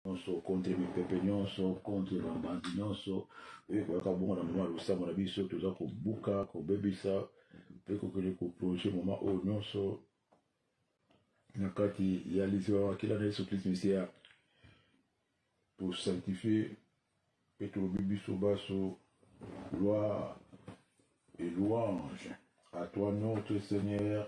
nyonso contre mipepe nyonso contre bambandi nyonso oyo ekoyaka bongo na mama ya losambo na biso toza kobuka kobebisa mpe kokende koplonge mama oyo nyonso na kati ya liziba ya makila na yesu kristu misia tosanctifie mpe tolobi biso baso gloire et louange à toi notre seigneur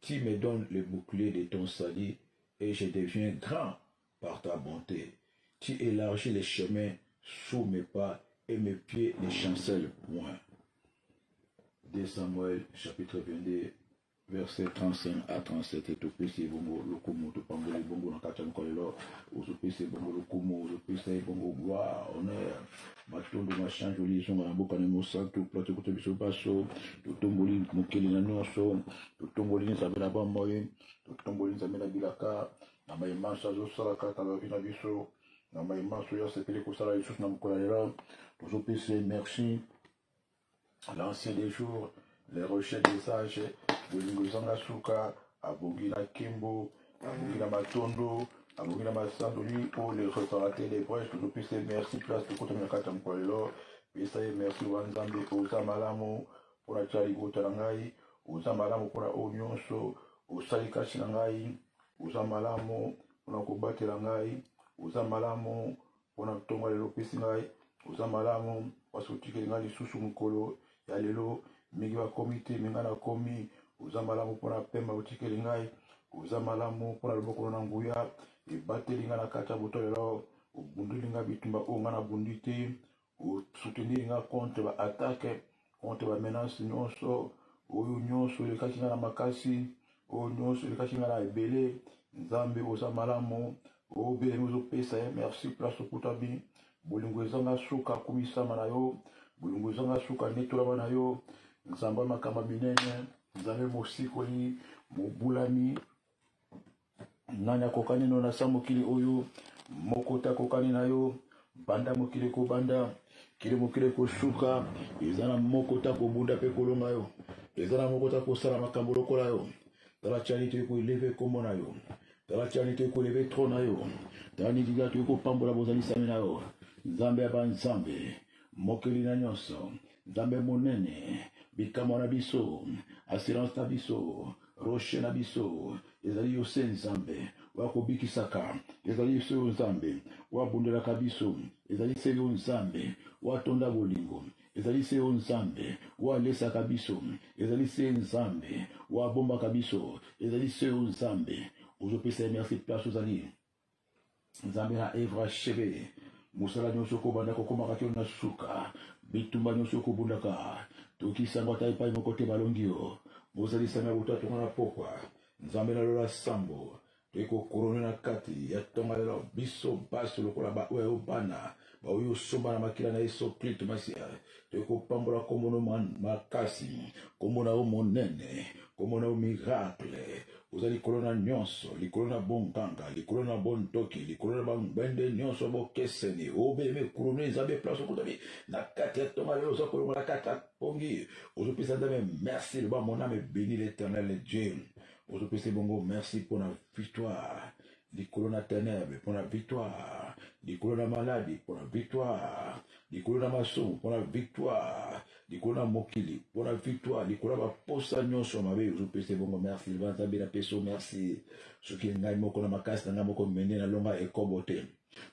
Qui me donne le bouclier de ton salut et je deviens grand par ta bonté. Tu élargis les chemins sous mes pas et mes pieds ne chancellent point. 2 Samuel chapitre 22 verset 35 à 37 etopesi ebongo lokumu topamboli ebongo na kati ya mokolo lelo ozopesa ebongo lokumu ozopesa ebongo gloire honneur matondo masanjoli ezonga na mboka na mosantu mpo tokuta biso baso totomboli mokili na nyonso totomboli nzambe na bamoi totomboli nzambe na bilaka na mai manso azosala kaka bavi na biso na mai manso oyo asepeli kosala lisusu na mokolo ya lelo tozopesa merci l'ancien des jours le rocher des âges bolingo ezanga suka abongi na kembo abongi na matondo abongi na masandoli o le reparateur des brèches tozopesa merci place tokotami na kati ya mokolo lelo pesa ye merci wa nzambe oza malamu mpo na tya libota na ngai oza malamu mpo na oyo nyonso osali kati na ngai oza malamu mpo na kobatela ngai oza malamu mpona ntongo ya lelo opesi ngai oza malamu mpasi otikeli ngai lisusu mokolo ya lelo mingi bakomi te me ngai nakomi oza malamu mpona pema otikeli ngai oza malamu mpona loboko na nguya ebateli ngai na kati ya boto lelo obundeli ngai bitumba oyo ngai nabundi te osuteniri ngai contre baatake contre ba menace nyonso oyo nyonso elekaki nga na makasi oyo nyonso elekaki nga na ebele nzambe oza malamu obelemi ozopesa ye merci place okutami bolingo ezanga suka kumisama na yo bolingo ezanga suka netolama na yo nzambe makambo minene nzambe mosikoli mobulami nani akokani no na sa mokili oyo moko te akokani na yo banda mokili kobanda kili mokili kosuka eza na moko te akobunda mpe kolonga yo eza na moko te akosala makambo lokola yo tala tiani toyei koeleve nkombo na yo tala tiani toyei koeleve tro na yo tala nidida toyei kopambola bozalisami na yo nzambe ya banzambe mokeli na nyonso nzambe monene bikamwa na biso assurance na biso roche na biso ezali yo se nzambe oyo akobikisaka ezali yo se yo nzambe oyo abundelaka biso ezali se yo nzambe oyo atonda bolingo ezali se yo nzambe oyo alesaka biso ezali se nzambe oyo abombaka biso ezali se yo nzambe ozopesa ye merci place ozali nzambe na evre acheve mosala nyonso okobanda kokomaka kino na suka bitumba nyonso okobundaka tokisango ata epai moko te balongi yo bozalisami ya botatu nga na pokwa nzambe na lola sambo toyei kokorone na kati ya ntonga lelo biso baso lokola baoyo ya yo bana baoyo osomba na makila na yesu klisto masiya eh, toyei kopambola nkombo na makasi nkombo na yo monene nkombo na yo miracle oza likolo na nyonso likolo na bonganga likolo na bondoki likolo na bangbende nyonso bokeseni obelemi ekulunu eza be place okutami na kati ya tonga lelo oza kolongola kati ya pongi ozopesa nzambe merci loba moname ebeni l'éternel dieu ozopesa bongo merci mpo na victoire likolo na tenebre mpo na victoire likolo na maladi mpo na victoire likolo na masumu mpo na victoire likolo na mokili mpo na victoire likolo na baposa nyonso ya mabe ozopesa ebongo merci libanzambe na peso merci soki ngai moko na makasi na ngai moko mende nalonga ekobo te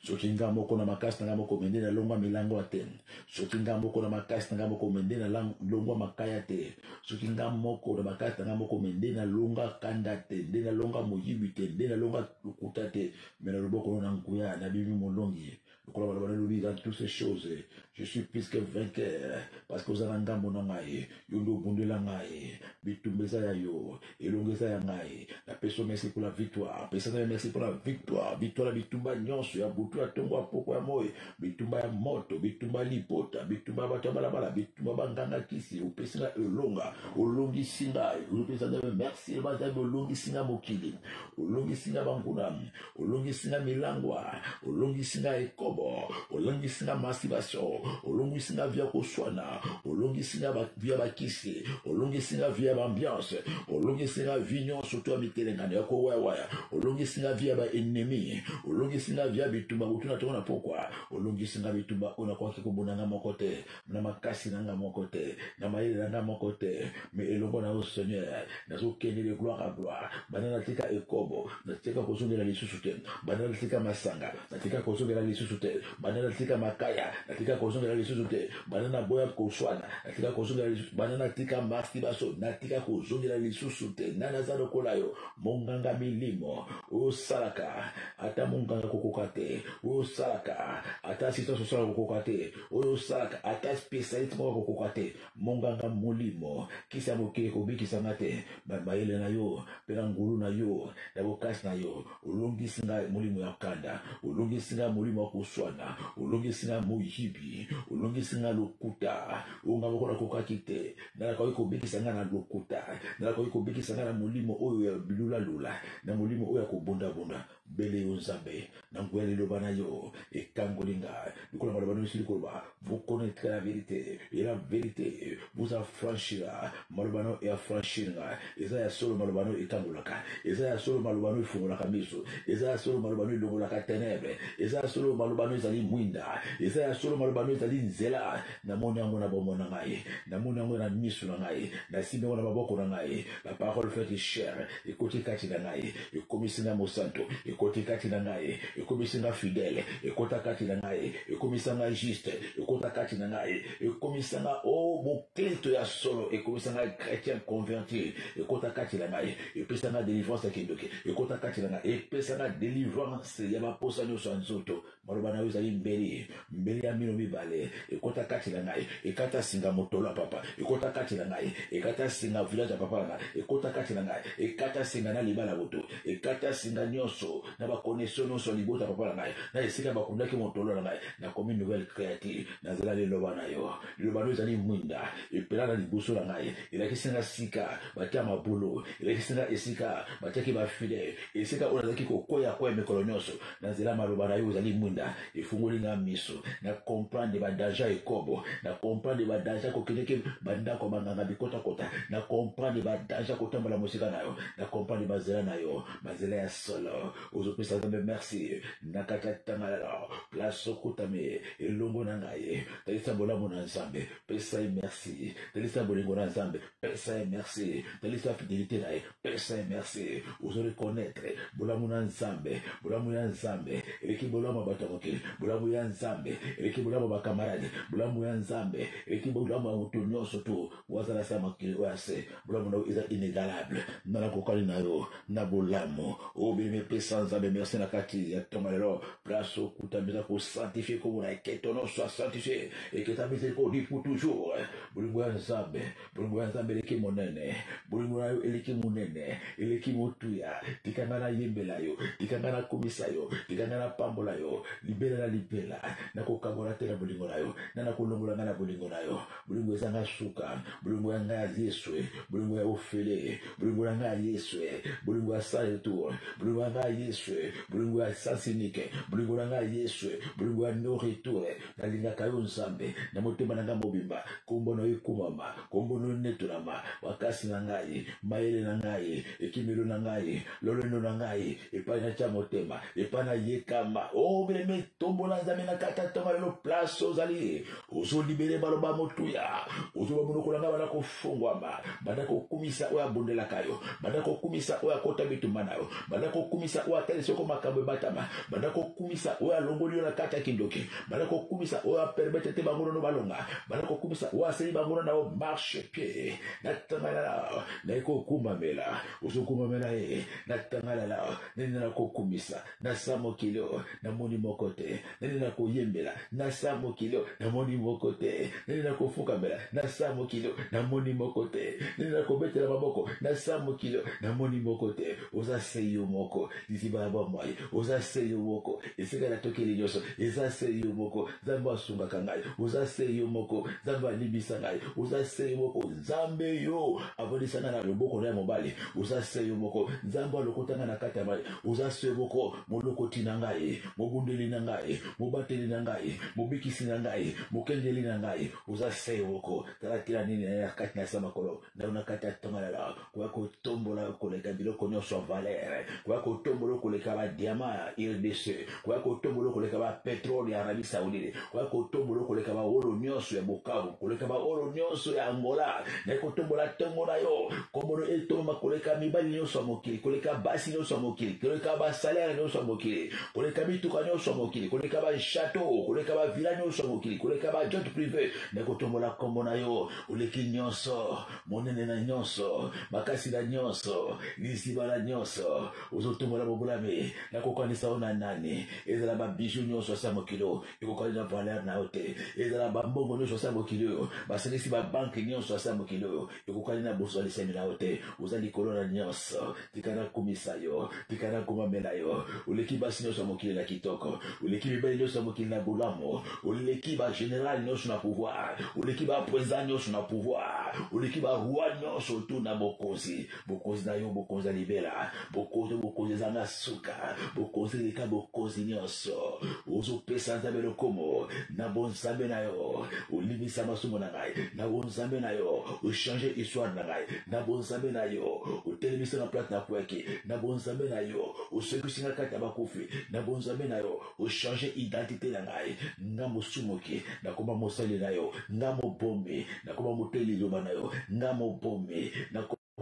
soki nga moko na makasi na nga moko mende na longwa milango ya te soki nga moko na makasi na nga moko mende na longwa makaya te soki nga moko na bakati na nga moko me nde nalonga kanda te nde nalonga moyibi te nde nalonga lokuta te me na loboko na nguya nabimi molongi lokola baloba nalobi dans toutes ces choses je suis plus que vainqueur parce que oza na ngambo na ngai yo nde obundela ngai bitumba eza ya yo elongo eza ya ngai napesi yo merci mpona victoire pesa ngai merci mpona victoire victoire na bitumba nyonso ya butu ya ntongo ya mpoko ya moi bitumba ya moto bitumba ya libota bitumba ya bato ya balabala bitumba banganga kisi opesi ngai elonga olongisi ngai opesa ngai merci ebazali olongisi ngai mokili olongisi ngai banguna olongisi nga milangwa olongisi nga ekobo olongisi nga masibasio olongisi nga via koswana olongisi nga via bakisi olongisi nga via baambiance olongisi nga vi nyonso to ya mitelengano ya kowayawaya olongisi nga via baennemi olongisi nga via bitumba botuna tongo na pokwa olongisi nga bitumba oyo nakoki kobunda nga moko te na makasi na nga moko te na mayele na nga moko te me elongo na yo seigneur nazokendele gloire a gloire banda natika ekobo natika kozongela lisusu te banda natika masanga natika kozongela lisusu te banda natika makaya natika kozongela lisusu te banda naboya koswana natika kozongela lisusu banda natika mastibaso natika kozongela lisusu te nga naza lokola yo monganga milimo osalaka ata monganga kokoka te osalaka ata assistance osalaka kokoka te oyo osalaka ata spesialite moko akokoka te monganga molimo kisi ya mokili kobikisa nga te mayele na yo mpe na ngolu na yo na bokasi na yo olongisi ngai molimo ya kanda olongisi ngai molimo ya koswana olongisi ngai moyibi olongisi ngai lokuta oyo ngai moko nakokaki te nalakoki kobikisa ngai na lokuta nalakoki kobikisa ngai na molimo oyo ya bilulalula na molimo oyo ya kobundabunda bele yo nzambe na nguya liloba na yo ekangoli nga lokola maloba na misili koloba vous connaître la vérité et la vérité vous affranchira maloba na yo eafranchir nga eza ya solo maloba na yo ekangolaka eza ya solo maloba na yo efungolaka miso eza ya solo maloba na yo elongolaka tenebre eza ya solo maloba na yo ezali mwinda eza ya solo maloba na yo ezali nzela namoni yango na bomoi na ngai namoni yango na miso na ngai nasimbi yango na maboko na ngai La parole fait du chair, ekoti kati na ngai, ekomisi nga mosanto, ekoti kati na ngai, ekomisi nga fidèle, ekota kati na ngai, ekomisa nga juste, ekota kati na ngai, ekomisa nga oh mokristo ya solo, ekomisa nga chrétien converti, ekota kati na ngai, epesa nga délivrance ya kindoki, ekota kati na ngai, epesa nga délivrance ya baposa nyonso ya nzoto, maloba na yo ezali mbeli mbeli ya mino mibale ekota kati na ngai ekata singa motolo ya papa ekota kati na ngai ekata singa village ya papa na ngai ekota kati na ngai ekata singa na libala moto ekata singa nyonso na bakonesio nyonso ya libota papa na ngai na esika bakundaki motolo na ngai nakomi nouvelle créature nazela liloba na yo liloba nayo ezali mwinda epela na liboso na ngai elakisi nga sika batia mabulu elakisi nga esika batiaki bafile esika oyo nazalaki kokwea kwea mikolo nyonso na nzela maloba na yo ozali mwinda efungoli nga miso na comprendre badanja ekobo na comprendre badanja kokendeke bandako ya banganga bikotakota na comprendre badanja kotambola mosika na yo na comprendre banzela na yo banzela ya solo ozopesa nzambe merci na kati ya tanga lelo place okutami elongo na ngai talisa bolamu na nzambe pesa ye merci talisa bolingo na nzambe pesa ye merci talisa fidelité na ye Pesa ye merci ozo reconnaître bolamu na nzambe bolamu ya nzambe eleki bolamu ya bato ya mokili bolamu ya nzambe eleki bolamu ya bakamarade bolamu ya nzambe eleki bolamu ya moto nyonso to wazala se ya mokili oyo ya se bolamu na yo eza inégalable nga nakokani na yo na bolamu obimi epesa nzambe merci na kati ya ntongo lelo place okutami eza kosanctifie komona eketono soit sanctifie eketami ezali koliku toujours bolingo ya nzambe bolingo ya nzambe eleki monene bolingo na yo eleki monene eleki motuya tika ngai nayembela yo tika ngai nakumisa yo tika ngai napambola yo libela na libela nakokabola te na bolingo na yo na nakolongola ngai na bolingo na yo bolingo eza ngai suka bolingo ya ngai ya yesu bolingo ya ofele bolingo na ngai ya yesu bolingo ya sans retour bolingo ya ngai ya yesu bolingo ya sans unique bolingo na ngai ya yesu bolingo ya no retour nalingaka yo nzambe na motema na ngai mobimba nkombo na yo ekumama nkombo na yo netolama makasi na ngai mayele na ngai ekimelo na ngai lolendo na ngai epai natya motema epai nayekama o oh, beleme tombola nzambe na kata tonga lelo place ozali ozolibere baloba motuya ozoba monoko na ngai bana fongwama banda kokumisa oyo abondelaka yo banda kokumisa oyo akota bitumba na yo banda kokumisa oyo atali soko makambo ebatama banda kokumisa oyo alongoli yo na kati ya kindoki banda kokumisa oyo apermete te bangonono balonga banda kokumisa oyo aseli bangono na yo marche pie natangalala naye kokumbamela ozokumbamela ye natangalala nini nakokumisa na sa mokili oyo namoni moko te nani nakoyembela na sa mokili oyo namoni moko te nani nakofukamela na sa mokili oyo namoni moko te nani nakobetela maboko na sa mokili oyo namoni moko te oza se yo moko liziba ya bomoi oza se yo moko esika natokeli nyonso eza se yo moko nzambe asungaka ngai oza se yo moko nzambe alimbisa ngai oza se yo moko nzambe yo abondisa ngai na loboko na ya mobali oza se yo moko nzambe alokota ngai na kati ya mai oza se moko molokoti na ngai mobundeli na ngai mobateli na ngai mobikisi na ngai mokengeli na ngai oza se moko tala tina nini ya kati na se makolo ndao na kati ya tongalala koya kotombola koleka biloko nyonso ya valere koya kotombola koleka badiama ya rdc koya kotombola koleka ba petrole ya arabie saudite koya kotombola koleka ba olo nyonso ya bukavu koleka ba olo nyonso ya angola naye kotombola ntongo na yo kombono etomba koleka mibali nyonso ya mokili koleka basi nyonso ya mokili koleka basalere nyonso ya mokili koleka mituka nyonso ya mokili koleka ba chateau koleka ba villa nyonso ya mokili koleka ba jet privé naye kotombola nkombo na yo oleki nyonso monene na nyonso makasi na nyonso liziba na nyonso ozotombola bobulami nakokanisa yo na nani ezala babiju nyonso ya sa mokili oyo ekokani na valeur na yo te ezala bambongo nyonso ya sa mokili oyo basangisi babanke nyonso ya sa mokili oyo ekokani na bozwalisami na yo te oza likolo na nyonso tika nakumisa yo tika nakumamela yo oleki basi nyonso ya mokili na kitoko oleki mibali nyonso ya mokili na bolamu oleki bageneral nyonso na pouvoir oleki baprezida nyonso na pouvoir oleki baroi nyonso tu na bokonzi bokonzi na yo bokonzi ya libela bokonzi bokonzi ezanga suka bokonzi eleka bokonzi nyonso ozopesa nzambe lokomo na bonzambe na yo olimisa masumu na ngai na bonzambe na yo ochange histoire na ngai na bonzambe na yo otelemisi na plate na kweki na bonzambe na yo osekisi na kati ya bakufi na bonzambe na yo ochange identité na ngai nga mosumuki nakoma mosali na yo nga mobomi nakoma motei liloba na yo nga mobomi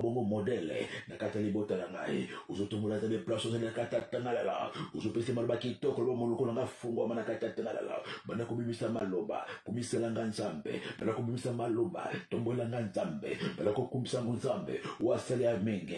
bongo modele na kati ya libota na ngai ozotombola ata deplace ozali na kati ya tangalala ozopesa maloba kitoko loba monoko na ngai fungwama na kati ya tangalala banda kobimisa maloba kumisela ngai nzambe banda kobimisa maloba tombolela ngai nzambe banda kokumisango nzambe oyo asali ya mingi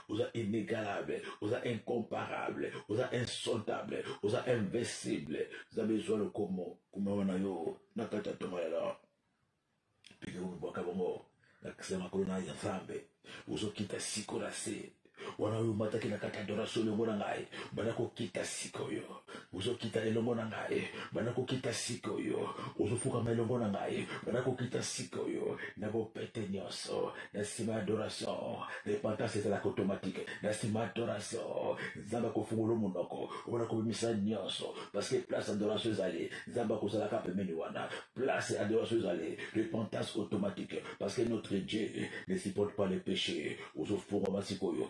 oza inégalable oza incomparable oza insontable oza invincible nzambe ezwa lokomo kumama na yo na kati ya ntoma lelo pike komibwaka bongo na kisa makolo na ya nzambe ozokita siko na se wana oyo omataki na kati ya adoration olongo na ngai banda kokita sikoyo ozokita elongo na ngai banda kokita sika oyo ozofukama elongo na ngai banda kokita sika oyo na bopete nyonso na nsima ya adoration repentance ezalaka automatike na nsima ya adoration nzambe akofungolo monoko obana kobimisa nyonso parceke place adoration ezali nzambe akozalaka pembeni wana place adoration ezali repentance automatique parceke notre dieu ne supporte pas le péché ozofungwama sikoyo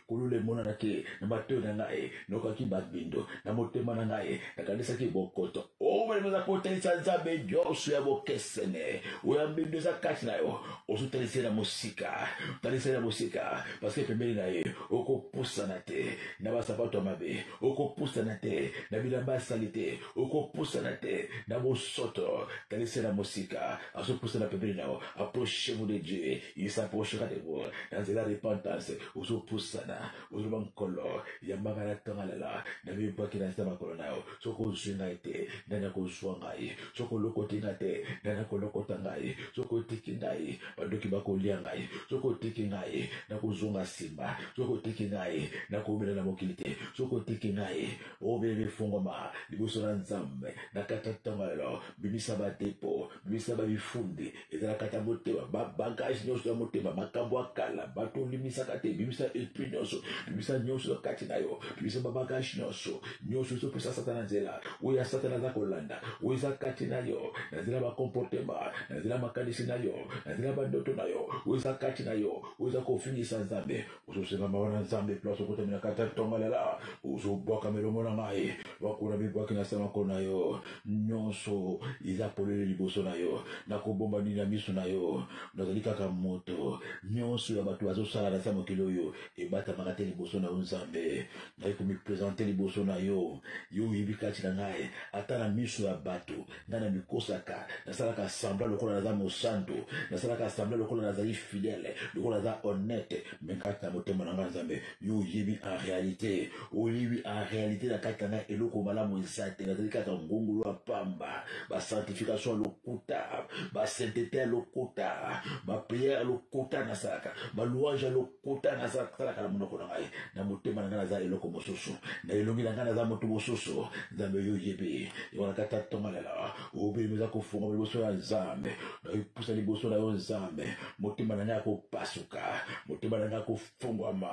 kulula emonanaki na matoi na ngai nokaki babindo na motema na ngai nakanisaki bokoto oyo eza kotalisa nzambe nyonso ya bokesene oyo ya mbindo eza kati na yo ozotalisa ye na mosika talisa ye na mosika paske pembeni na ye okopusana te na basapato ya mabe okopusana te na bilamba ya sali te okopusana te na bosoto talisa ye na mosika azopusana pembeni na yo approche mu de dieu il s'approchera de vous dans la repentance ozo pusana ozo ba nkolo ya mama na tanga lala na mi bwa kina sa makolo na yo soko zwinga ete nana ko zwa ngai soko loko tinga te nana ko loko tangai soko tiki ngai bandoki ba ko lia ngai soko tiki ngai na ko zonga simba soko tiki ngai na ko mela na mokili te soko tiki ngai o bebe fongoma liboso na nzambe na kata tanga lala bimisa ba depo misala mifunde ezalaka ata motema babagage nyonso ya motema makambo ya kala bato olimisaka te bimisa esprit nyonso bimisa nyonso na kati na yo bimisa babagage nyonso nyonso ezopesa satana nzela oyo ya satana aza kolanda oyo eza kati na yo na nzela bakomportema na nzela makanisi na yo na nzela bandoto na yo oyo eza kati na yo oyo eza kofingisa nzambe ozosenga mawa na nzambe place okotami na kati ya ntongalela ozobwaka melongo na ngai bakuna mibwaki na semako na yo nyonso eza polele liboso na yo nakobomba nini ya miso na yo nazali kaka moto nyonso ya bato bazosala na sa mokili oyo ebatamaka te liboso na yo nzambe naye komipresente liboso na yo yo oyebi kati na ngai ata na miso ya bato nga na mikosaka nasalaka sembla lokola naza mosanto nasalaka sembla lokola nazali fidèle lokola naza honnête me kati na motema na nga nzambe yo oyebi en réalité oyebi en réalité na kati na nga eloko malamu eza te nazali kaka ngongolo ya pamba basanctification ya lokuta basaintete ya lokuta bapriere ya lokuta nasalaka balouange ya lokuta kota naza talaka na monoko na ngai na motema na ngai naza eloko mosusu na elongi na ngai naza moto mosusu nzambe yo oyebi wana tata tongalela obelemi eza kofunga liboso ya nzambe nakopusa liboso na yo nzambe motema na ngai akopasuka motema na ngai akofungwama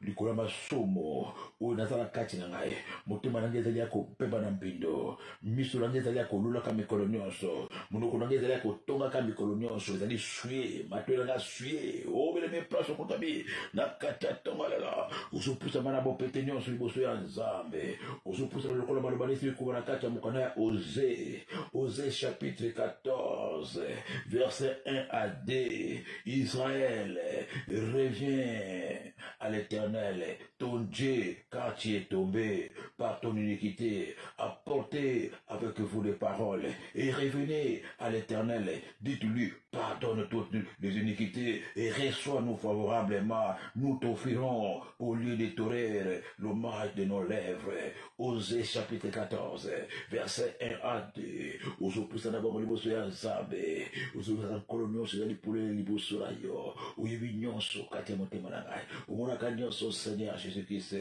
likolo ya masumu oyo naza na kati na ngai motema na ngai ezali ya kobeba na mbindo miso na ngai ezali ya kolulaka mikolo nyonso monoko na ngai ezali ya kotongaka mikolo nyonso ezali sue matoi na ngai sue obelemi oh, place okotami na kati ya ntongo lelo ozopusama na bopete nyonso liboso ya nzambe ozopusama lokola maloba nesi bikoma na kati ya mokanda ya oze oze chapitre 14 verset 1 à 2 israel revient à l'éternel ton dieu Quartier est tombé par ton iniquité. Apportez avec vous les paroles et revenez à l'éternel. Dites-lui, pardonne toutes les iniquités et reçois-nous favorablement. Nous t'offrirons au lieu de torer l'hommage de nos lèvres. Osée chapitre 14, verset 1 à 2. ozopesa na bango liboso ya nzambe ozozala nkolo nyonso ezali polele liboso na yo oyebi nyonso kati ya motema na ngai omonaka nyonso seigneur jésus krist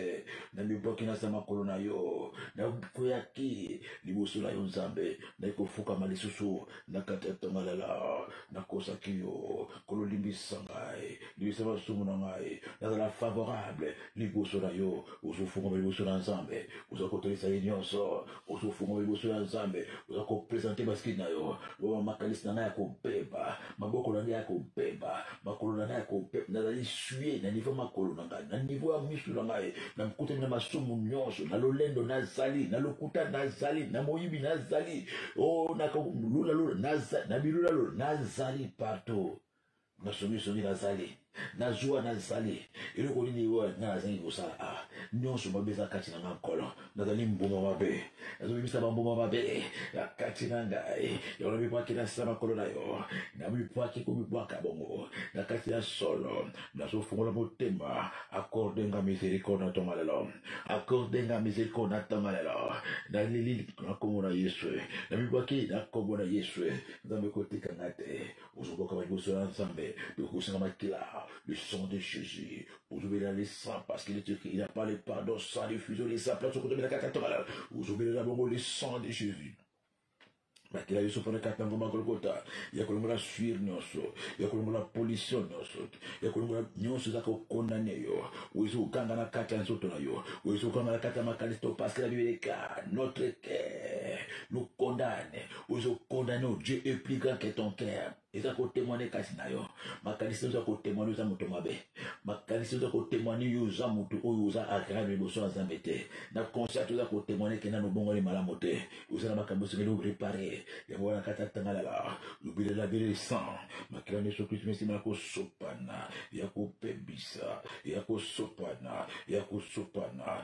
namibwaki na se makolo na yo nakweyaki liboso na yo nzambe naye kofukama lisusu na kati ya tongalala nakosaki yo kololimbisa ngai limbisa masumu na ngai nazala favorable liboso na yo ozofukama liboso na nzambe oza kotolisa ye nyonso ozofuma liboso ya nzambe oza kopresente baskini na yo loba makanisi na ngai ya kobeba maboko na ngai ya kobeba makolo na ngai ya kobeba nazali sue na nivo makolo na ngai na nivo ya misu na ngai na mokutani na masumu nyonso na lolendo nazali na lokuta nazali na moyibi nazali o oh, na bilulalola nazali partout na songisongi nazali na zuwa nazali eloko nini oyo ngai nazangi kosala a ah, nyonso mabe eza kati na ngai nkolo nazali mbuma mabe nazobimisa bambuma mabe na kati na ngai yango namibwaki na nsima makolo na yo namibwaki komibwaka bongo na kati ya solo nazofungola motema akorde nga misericorde na ntonga lelo akorde nga misericorde na ntonga lelo nalili na nkombo na yesu namibwaki na nkombo na yesu nzambe kotika ngai te ozobokama liboso ya nzambe tokosanga makila le sang de jésus ozobelela le sang parce qu'il est écrit il a pas le pardon sans le fuseau les saplas okotomela kaka tobala ozobelela bongo le sang de jésus bakila biso mpona kati na ngomba ya kolokota ya kolongola swire nyonso ya kolongola pollution nyonso ya kolongola nyonso eza kokondane yo oyo eza kokanga na kati ya nzoto na yo oyo eza kokanga na kati ya makanisi to paske na bibeleka notre cœur nous condamne ozo condamne o dieu est plus grand que ton cœur eza kotemoine kati na yo makanisi oza kotemoine oza moto mabe makanisi oza kotemoine yo oza moto oyo oza agreable liboso ya nzambe te na consciente oza kotemoine ke nano obongoli malamu te oza na makambo esengeli orepare yango wana kati atangalala lobelela bele sang makila nyonso kristu mesima ya kosopana ya kobebisa ya kosopana ya kosopana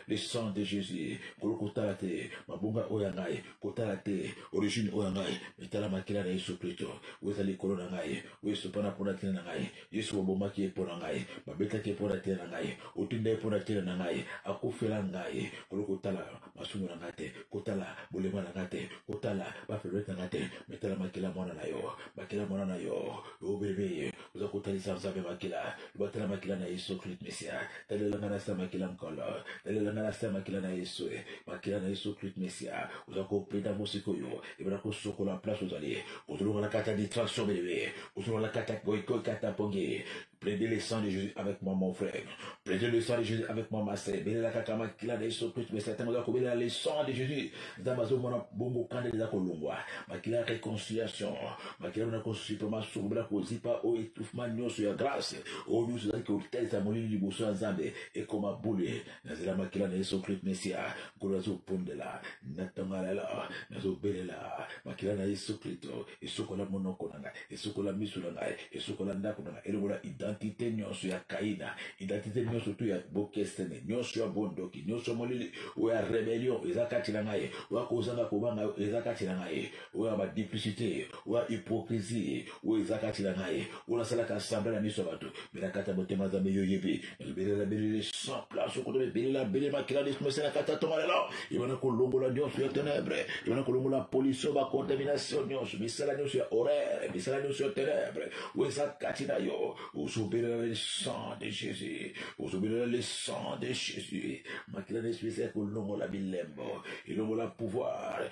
le sang de jésus kolo kotala te mabonga oyo ya ngai kotala te origine oyo ya ngai etala makila na yesu kristo oyo ezali likolo na ngai oyo esopana mpo na ntina na ngai yesu babomaki ye mpo na ngai babetaki ye mpo na ntina na ngai otinda ye mpo na ntina na ngai akufela ngai kolo kotala masumu na ngai te kotala bolema na ngai te kotala bafeblete na ngai te metala makila mwana na yo makila mwana na yo obebe oza kotalisa nzambe makila batala makila na yesu kristo mesia talela ngai nasa makila nkolo talela ngai nasa makila na yesu makila na yesu kristo mesia oza kopenda mosikoyo ebana kosokola place ozali ozolonga na kati ya distraction belebe ozolonga na kati ya koikoi kati ya mpongi plede le sang de jésus avec moi mon frère Prenez le sang de Jésus avec moi, ma sœur. Bénéla kakama kila de so Christ, mais certains ont coupé le sang de Jésus. Dans ma zone, mon bongo kande de la kolongwa. Ma kila réconciliation. Ma kila na konsupe ma so bla ko zipa o étouffement nyo sur la grâce. O nyo so que au tel sa moli du bosso ensemble et comme a boule. Na zela ma kila de so Christ Messia. Kolo zo pondela. Na tangala la. Na zo bénéla. Ma kila na so Christ. esukola monoko na ngai esukola miso na ngai esukola ndako na ngai elongola identite nyonso ya kaina identite nyonso tu ya bokesene nyonso ya bondoki nyonso ya molili oyo ya rebellion eza kati na ngai oyo ya kozanga kobanga eza kati na ngai oyo ya badiplicité oyo ya hypocrisie oyo eza kati na ngai oyo asalaka assemble na miso ya bato mpe na kati ya motema nzambe yo oyebi ebelela belele sans place okoto ebelela bele makila lismese na kati ya tonga lelo ebana kolongola nyonso ya tenebre ebana kolongola pollution bacontamination nyonso misala nyonso ya horaire misala nyonso ya tenebre oyo eza kati na yo ozobelela le sang de jésus ozobelela le sang de jésus makila na espese ya kolongola bilembo elongola pouvoir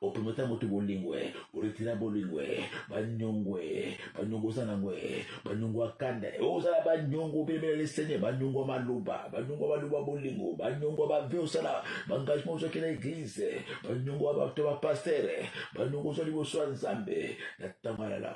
otometa moto bolingo e oretira bolingo e banyongo e banyongo oza nango e banyongo ya kanda e ozala banyongo obelebela lesene banyongo ya maloba banyongo ya maloba bolingo banyongo ya bave osala baengagement ozwaki na eglize banyongo ya bato ya bapastere banyongo ozwa liboso ya nzambe na ntango alala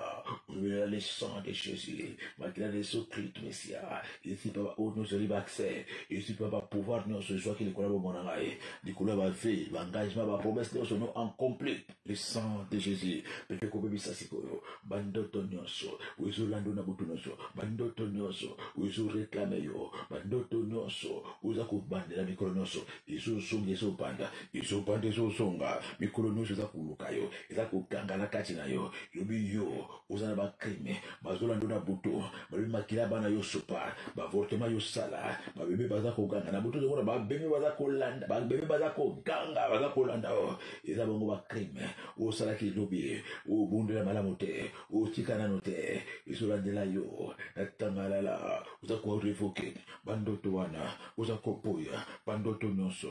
olobela le sang de jésus makila na yesu kristu mesia ezwi mpe baoyo nyonso ezali baaccès ezwi mpe bapouvoir nyonso ezwaki likolo ya bomona ngai likolo ya bave baengagement bapromesse nyonso no en complet le sang de jésus pete kobebisa sikoyo bandoto nyonso oyo ezolanda na butu nyonso bandoto nyonso oyo ezoreklame yo bandoto nyonso oyo eza kobandela mikolo nyonso ezozonga ezobanda ezobanda ezozonga mikolo nyonso eza koluka yo eza kokangana kati na yo yobi yo oza na bacrime bazolanda na butu balobi makila bana yo sopa bavortema yo sala babebe baza koganga na butu tokomona babebe baza kolanda babebe baza koganga baza kolanda o eza bango bacrime osalaki lobi obundela malamu te otika nano te ezolandela yo na tangalala oza korevoke bandoto wana oza kopoya bandoto nyonso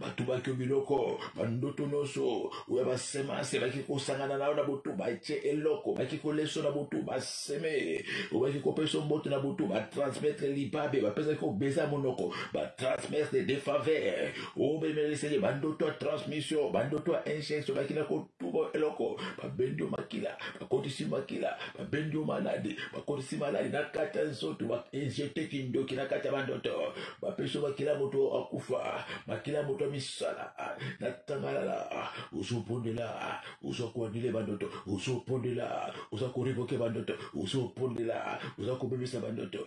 batubaki yo biloko bandoto nyonso oyo basemase baki kosangana na yo na butu batye eloko baki koleso na butu baseme obaki kopesa mboto na butu batransmettre libabe bapesaki kobeza monoko batransmettre de faveur obemelisaki bandoto ya transmission bandoto ya injection bakina ko tuba eloko babendi yo makila bakotisi makila babendi yo maladi bakotisi maladi na kati ya nzoto bainjete kindoki na kati ya bandoto bapesi yo makila moto akufa makila moto ya misala na tangalala ozobondela oza koanile bandoto ozobondela oza koriboke bandoto ozobondela oza kobebisa bandoto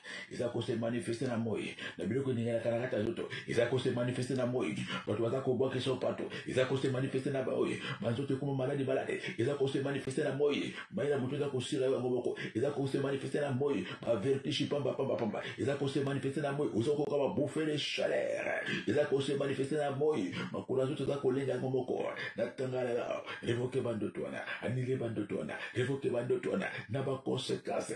eza kose manifeste na moi na biloko eninganaka na kati ya nzoto eza kose manifeste na moi bato baza kobwaka eso pato eza kose manifeste na baoye banzoto ekoma maladi maladi eza kose manifeste na moi mai na moto eza kosila yo yango moko eza kose manifeste na moi bavertige pamba pamba pamba eza kose manifeste na moi oza kokoka babouffe de chaleur eza kose manifeste na moi makolo ya nzoto eza kolenga yango moko natangalela revoke bandoto wana anile bandoto wana revoke bandoto wana na baconsequence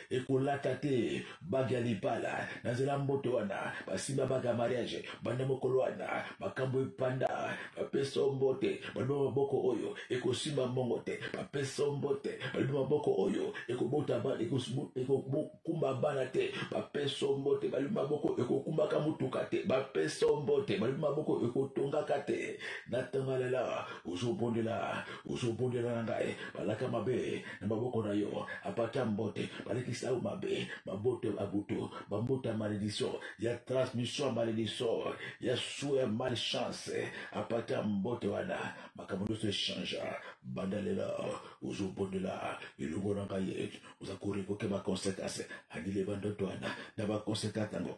ekolata te bage ya libala na nzela mboto wana basimba bage ya mariage banda mokolo wana makambo epanda bapesa mbote balobi maboko oyo ekosimba mbongo te bapesa mbote balobi maboko oyo ekobota ekokumba bana te bapesa mbote balobi maboko ekokumbaka motuka te bapesa mbote balobi maboko ekotongaka te na ntango lela ozobondela ozobondela na ngai balaka mabe na maboko na yo apata mbote balekisa yo mabe maboto ya babutu bambote ya malediction ya transmission ya malediction ya sue ya malchance apata mbote wana makambo nyonso echangea banda lela ozobondela elongo na ngai oza korekoke baconsequence andile bandoto wana na baconsequence yango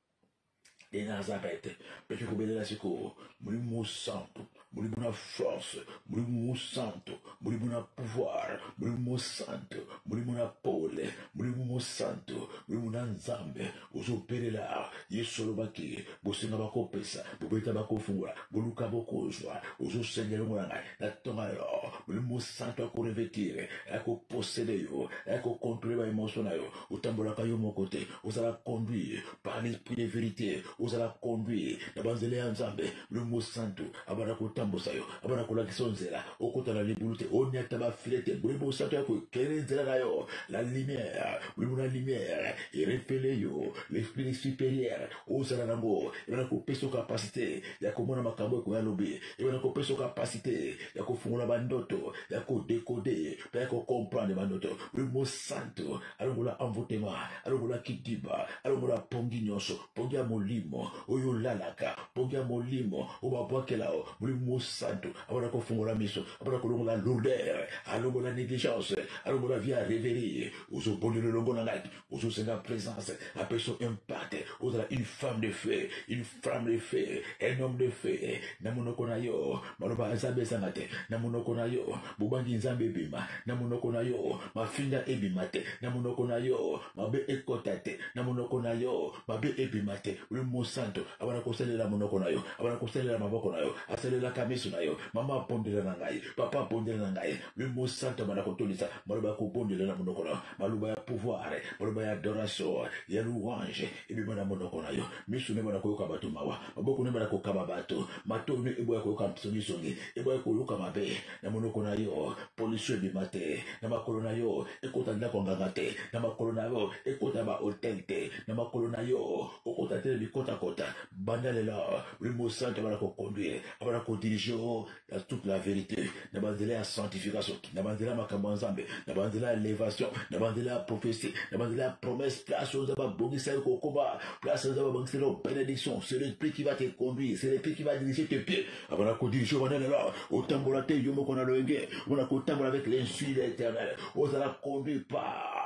ndenge azaka ete peke kobelela sikoyo molimo mosantu molimo na force molimo mosantu molimo na pouvoir molimo mosantu molimo na pole molimo mosantu molimo na nzambe ozobelela yesu olobaki bosenga bakopesa bobeta bakofungola boluka bokozwa ozosenga elongo na ngai na ntonga yo molimo mosantu akorevetire akoposede yo akokontrole baemotion na yo otambolaka yo moko te ozala conduit par l'esprit de vérité ozala conduit na banzela ya nzambe lomo santu abanda kotambusa yo abanda kolakisa yo nzela okota na libulu te onyata bafile te molimo santu ya kokele nzela na yo la lumière molimo na lumière erepele yo l'esprit supérieur ozala nango ebanda kopesa kapasite ya komona makambo ekoya lobi ebanda kopesa kapasite ya kofungola bandoto ya kodekode mpe ya kokomprendre bandoto molimo santu alongola envoutema alongola kidiba alongola pongi nyonso pongi ya molimo oyo olalaka pongi ya molimo oyo babwakela o molimo mosantu abana kofungola miso abana kolongola lourdeur alongola négligence alongola vie ya reverie ozobondela elongo na ngai ozosenga présence apeso impate ozala une femme de feu une flamme de feu un homme de feu na monoko na yo maloba ya nzambe ezanga te na monoko na yo bobangi nzambe ebima na monoko na yo mafinga ebima te na monoko na yo mabe ekota te na monoko na yo mabe ebima te oyo mosanto abana kosalela monoko na yo abana kosalela maboko na yo asalelaka miso na yo mama abondela na ngai papa abondela na ngai oyo mosanto abana kotondisa maloba ya kobondela na monoko na yo maloba ya pouvoir maloba ya adoration ya louange ebima na monoko na yo miso neba na koyoka bato mawa maboko neba na kokaba bato mato ne eboya koyoka mpisongisongi eboya koyoka mabe na monoko na yo polisio ebima te na makolo na yo ekota ndako ya nganga te na makolo na yo ekota bahotel te na makolo na yo okota te na bikotakota banda lelo molimo santo abana kokonduire abana kodirige o ya toute la vérité na banzela ya sanctification na banzela ya makambo ya nzambe na banzela ya levation na banzela ya prophetie na banzela ya promesse place oyo nzambe abongisa yo kokoma place oyo nzambe abongisa yo bénédiction c'est l'esprit qui va te conduire c'est l'esprit qui va diriger tes pieds abana kodirige bana lelo otambola te yo moko na loyenge ona kotambola avec l'insu de l'éternel ozala conduit par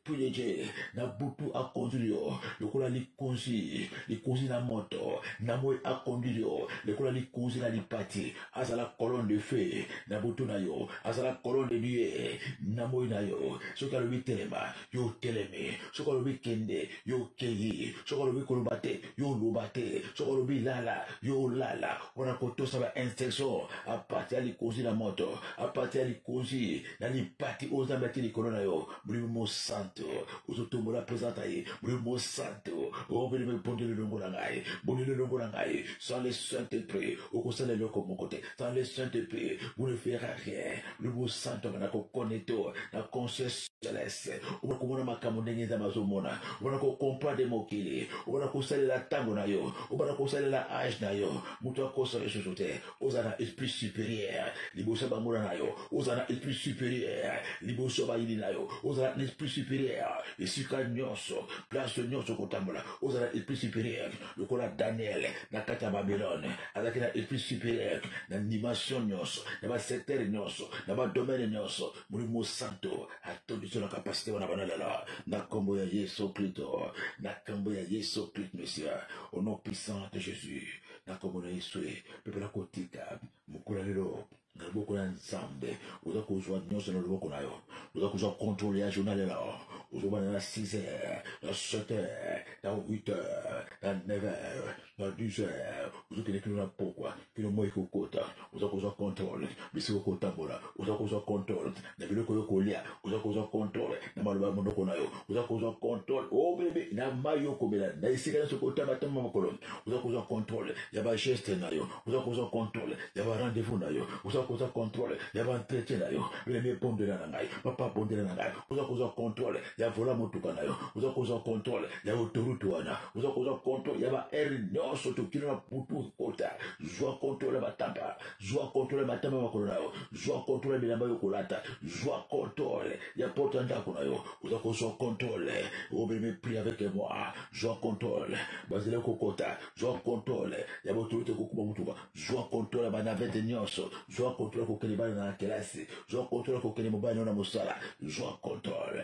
Tuyeje na butu akonduire yo lokola likonzi likonzi na moto na moi akonduire yo lokola likonzi na lipati azala colonne de feu na butu na yo azala colonne de dieu na moi na yo soki alobi telema yo otelemi soki alobi kende yo okei soki alobi koloba te yo oloba te soki alobi lala yo olala mpona kotosa ba instruction apartir ya likonzi na moto apartir ya likonzi na lipati oyo nzambe ati likolo na yo molimo mosanto ozotombola presenta ye molimo mosanto obelema ebondeli elongo na ngai bondeli elongo na ngai sans le saint esprit okosala eloko moko te sans le saint esprit vous ne fera rien molimo mosanto anga na kokoneto na conscience celeste obona komona makambo ndenge nzambe azomona obona kokomprendre mokili obona kosalela ntango na yo obona kosalela age na yo moto akosa lisusu te oza na esprit supérieur liboso ya banguna na yo oza na esprit supérieur liboso ya bayini na yo oza na esprit supérieur esika nyonso place nyonso kotambola oza na esprit supérieur lokola daniel na kati ya babylone azalaki na esprit supérieur na dimension nyonso na basecteur nyonso na badomene nyonso molimo santo atondisi na kapasité wana bana lelo na nkombo ya yesu kristo na nkombo ya yesu kristo monsieur au nom puissant de jésus na nkombo na yesu e mpe mpona kotika mokola lelo na loboko ya nzambe oza kozwa nyonso na loboko na yo oza kozwa contrôle ya journal lelo ozobana na 6 heures na 7 heures na 8 heures na 9 heures na 10 heures ozokende kino na pokwa kino moi kokota oza kozwa controle bisika okotambola oza kozwa controle na biloko yo kolia oza kozwa controle na maloba ya monoko na yo oza kozwa controle o oh, bebe na mai yo komela na esika nyonso kotambatamba mokolo oza kozwa controle ya bageste na yo oza kozwa controle ya barendez-vous na yo oza kozwa controle ya baentretien na yo lemi ebondela na ngai papa bondela na ngai oza kozwa controle ya vola motuka na yo oza kozwa controle ya autorité wana oza kozwa contrôle ya baheure nyonso tokili na butu ekota zwa contrôle ya batapa zwa contrôle ya matama makolo na yo zwa contrôle ya bilamba yo kolata zwa contrôle ya porte ya ndako na yo oza kozwa contrôle obeme pri avec moi zwa contrôle bazali kokota zwa contrôle ya baautorité kokuba motuka zwa contrôle ya banavete nyonso zwa contrôle ya kokende bana na kelasi zwa contrôle ya kokende mobali na yo na mosala zwa contrôle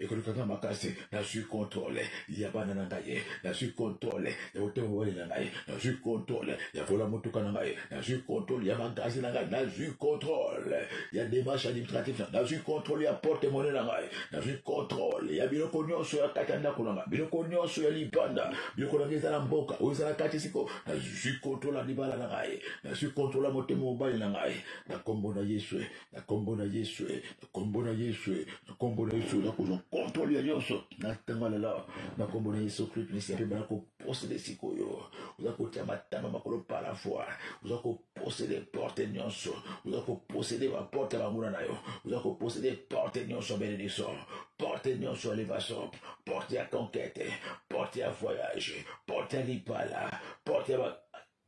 ekoleka nga makasi nazwi kontrole ya bana na ngai nazwi kontrole ya motema mobali na ngai nazwi kontrole ya vola motuka na ngai nazwi kontrole ya magazi na ngai nazwi kontrole ya demarche administratif na nazwi kontrole ya porte mone na ngai nazwi kontrole ya biloko nyonso ya kati ya ndako na ngai biloko nyonso ya libanda biloko na ngai eza na mboka oyo eza na kati siko nazwi kontrole ya libala na ngai nazwi kontrole ya motema mobali na ngai na nkombo na yesu na nkombo na yesu eh, na nkombo na yesu eh, na nkombo na yesu nakozwa kontrole ya nyonso na ntango lela na nkombo na yesu kristo mesi mpe bana koposede sikoyo oza kotya matama makolo pala fois oza koposede porte nyonso oza koposede baporte ya banguna na yo oza koposede porte nyonso ya benediction porte nyonso ya elevation porte ya conquete porte ya voyage porte ya lipala porte ya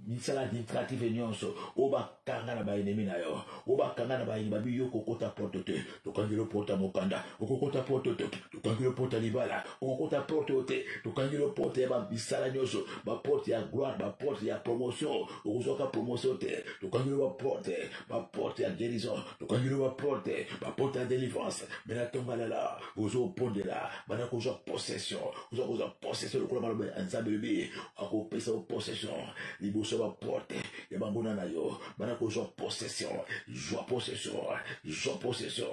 misala administrative nyonso oyo bakanga na baenemi na yo oyo bakanga na baye babi yo okokota porte te tokangi yo porte ya mokanda okokota porte te tokangi yo porte ya libala okokota porte oyo te tokangi yo porte ya bamisala nyonso baporte ya gloire baporte ya promotion okozwaka promotion te tokangi yo baporte baporte ya guérison tokangi yo baporte baporte ya délivrance mena tongalela ozopondela bana kozwa possession oza kozwa possession lokola maloba ya nzambe elobi akopesa yo possession liboso ya baporte ya banguna na yo bana kozwa possession zwa possession zwa possession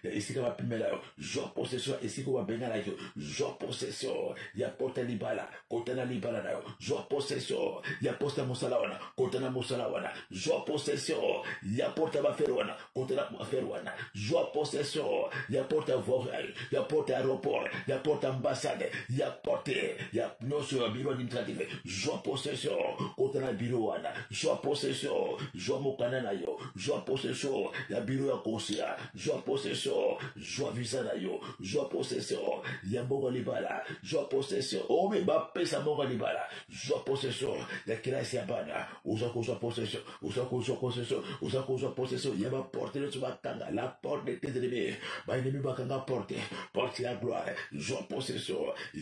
ya esika bapimela yo zwa possession ya esika babenganaki yo zwa possession ya porte ya libala kota na libala na yo zwa possession ya poste ya mosala wana kota na mosala wana zwa possession ya porte ya bafere wana kotala affaire wana zwa possession ya porte ya voirie ya porte ya aéroport ya porte ya ambassade ya porte ya nyonso ya biro administrative zwa possession kotala biro wana zwa possession zwa mokanda na yo zwa possession ya biro ya consulat zwa possession zwa visa na yo zwa possession ya mbongo libala zwa possession oyo bapesa mbongo libala zwa possession ya kelasi ya bana oza kozwa possession oza kozwa possession oza kozwa possession ya baporte nyonso bakanga la porte de tes ennemis baennemi bakanga porte porte ya gloire zwa possession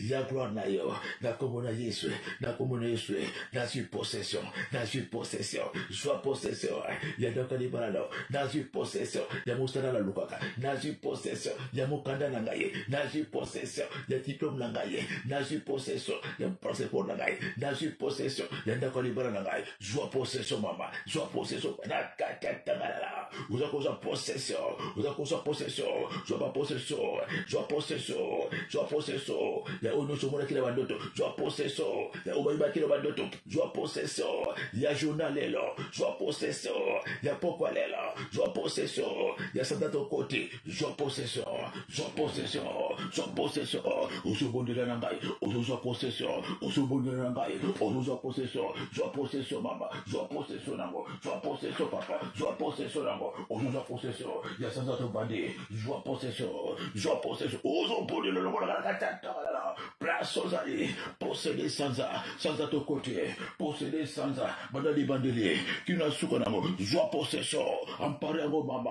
ya gloire na yo na nkombo na yesu na nkombo na yesu nazwi possession nazwi possession zwa possession ya ndoka libala nao nazwi possession ya mosala nalukaka nazwi possession ya mokanda na ngai nazwi possession ya diplome na ngai ye nazwi possession ya passeport na ngai nazwi possession ya ndako ya libala na ngai zwa possession mama zwa possession nakatatangalala oza kozwa possession oza kozwa possession zwa bapossession zwa possession zwa possession ya oyo nyonso omonaki na bandoto zwa possession ya oyo bayibaki na bandoto zwa possession ya journal lelo zwa possession ya pokwa lelo zwa possession ya sanda tokoti zwa possession zwa possession zwa possession ozobondela na ngai ozozwa possession ozobondela na ngai ozozwa possession zwa possession mama zwa possession nango zwa possession papa zwa possession nango ozozwa possession ya sanza tobandi zwa possession zwa possession ozobondela lokola kala katatala place ozali posede sanza sanza tokoti posede sanza banda libandeli kino suka nango zwa possession ampare yango mama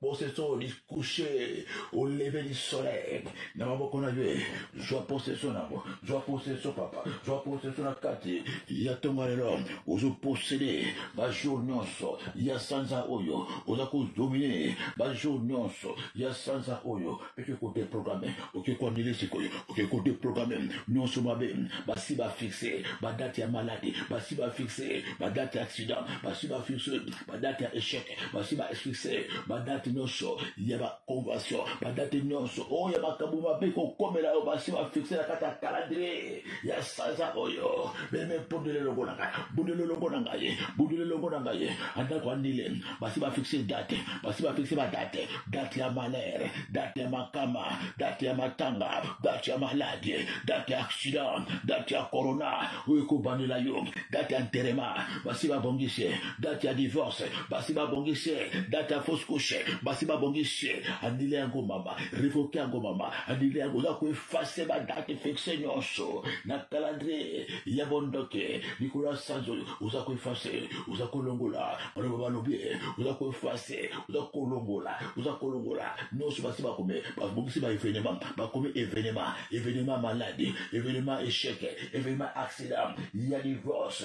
possession du coucher au lever du soleil na maboko na ye zwa possession na yango zwa possession papa zwa possession na kati ya ntongo lelo ozoposede bajour nyonso ya sanza oyo oza kodomine bajour nyonso ya sanza oyo oke kodeprograme oke koanile sikoyo oke kodeprograme nyonso mabe basi bafixe badate ya maladi basi bafixe badate ya accident basi bafixe badate ya echec basi ba succès badate nyonso ya baconvention badate nyonso oyo ya makambo mabe kokomela yo basi bafixe na kati ya calendrier ya sanza oyo meme bundele longo na ngai bundele longo na ngai bundele longo na ngai andako andile basi bafixe date basi bafixe badate date ya malere date ya makama date ya matanga date ya maladi date ya accident date ya corona oyo ekobandela yo date ya nterema basi babongisi ye date ya divorce basi babongisi ye date ya fausse couche basi babongisi ye anile yango mama revoke yango mama anile yango oza koefase badate fixe nyonso na calendrier ya bondoke likolo ya sanzo oza koefase oza kolongola baloba balobi oza koefase oza kolongola oza kolongola nyonso basi bakomi babongisi ba evenema bakomi evenema evenema maladi evenema echec evenema accident ya divorce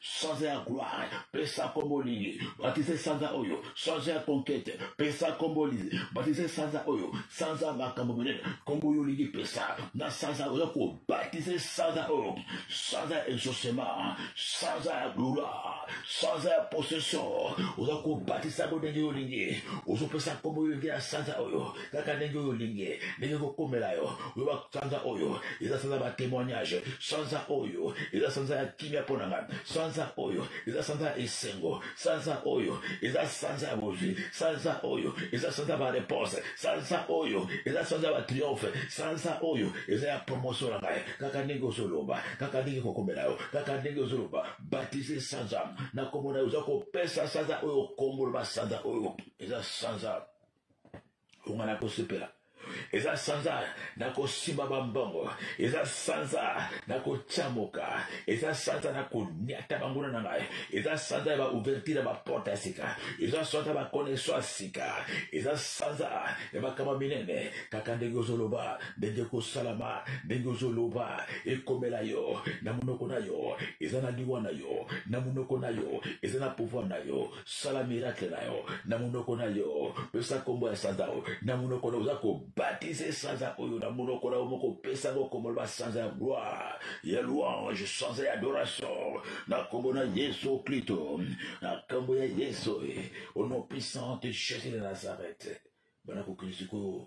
sanza ya gloire pesa kombo lingi batise sanza oyo sanza ya conquete pesa kombo lingi batise sanza oyo sanza makambo minene kombo yo olingi pesa na sanza oza kobatise sanza oyo sanza ya exaucement sanza ya gloire sanza ya possession oza kobatisa yango ndenge yo olingi ozopesa kombo yo olingi ya sanza oyo kaka ndenge oyo olingi ndenge ekokomela yo oyoba sanza oyo eza sanza batémoignage sanza oyo eza sanza ya kimia mpo na ngai sanza oyo eza sanza ya esengo sanza oyo eza sanza ya bozwi sanza oyo eza sanza ya bareponse sanza oyo eza sanza ya batriomphe sanza oyo eza ya promotion na ngai kaka ndenge ozoloba kaka ndenge ekokomela yo kaka ndenge ozoloba batise sanza nakomona yo oza kopesa sanza oyo okongoloba sanza oyo eza sanza bonga nakosepela eza sanza nakosimba bambongo eza sanza nakotyamoka eza sanza nakoniata banguna na ngai eza sanza ya baouverture ya baporte ya sika eza sanza bakoneso ya sika eza sanza ya makama minene kaka ndenge ozoloba ndenge ekosalama ndenge ozoloba ekomela yo na monoko na yo eza na liwa na yo na monoko na yo eza na pouvoir na yo sala miracle na yo na monoko na yo pesa nkombo ya sanza oyo na monoko na oza kobatize sanza oyo na monoko na yo moko pesa yango nkombo loba sanza ya gloire ya louange sanza ya adoration na nkombo na yesu klito na nkombo ya yesu au nom puissant de jésus de nazareth bana kokende sikoyo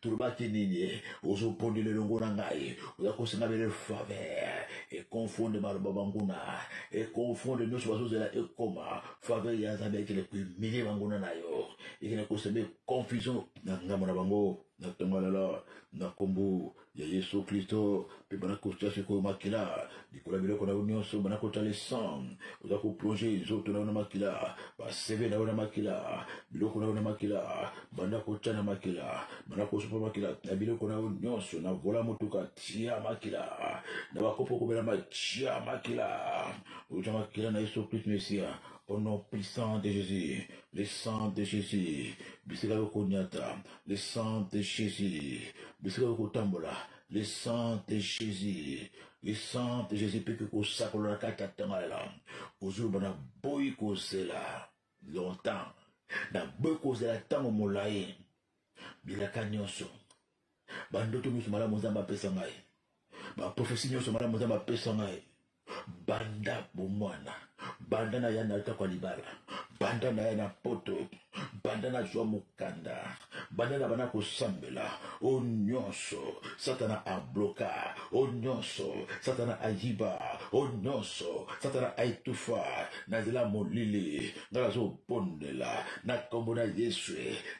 tolobaki nini eh? ozobondela elongo na ngai oza kosenga bele faveur econfonde maloba banguna econfonde nyonso bazozela ekoma faveur ya nzambe ekende koemilie banguna na yo ekende koseme confusion na ngambo na bango na ntongo ya lelo na nkombo ya yesu kristo mpe bana kotya sikoyo makila likolo ya biloko na yo nyonso bana kotya le sang oza koplonge nzoto na yo na makila baseve na yo na makila biloko na yo na makila banda kotya na makila banda kosopa makila na biloko na yo nyonso na vola motuka tia makila na bakopo kobela matya makila otya makila na yesu kristu mesia Au nom puissant de Jésus, le sang de Jésus, bisika yo konyata, le sang de Jésus, bisika yo kotambola, le sang de jésus le sang de jésus mpe kosakola kati atangalela ozoloba na boyi kozela longtemps na boyi kozela ntango molai bilaka nyonso bandoto nyonso malamu nzambe apesa ngai baprofesi nyonso malamu nzambe apesa ngai banda bomwana banda na ya na atako ya libala banda na ya na poto banda nazwa mokanda banda na bana kosambela o nyonso satana abloka o nyonso satana ayiba o nyonso satana aetufa na nzela molili ngai nazobondela na nkombo na yesu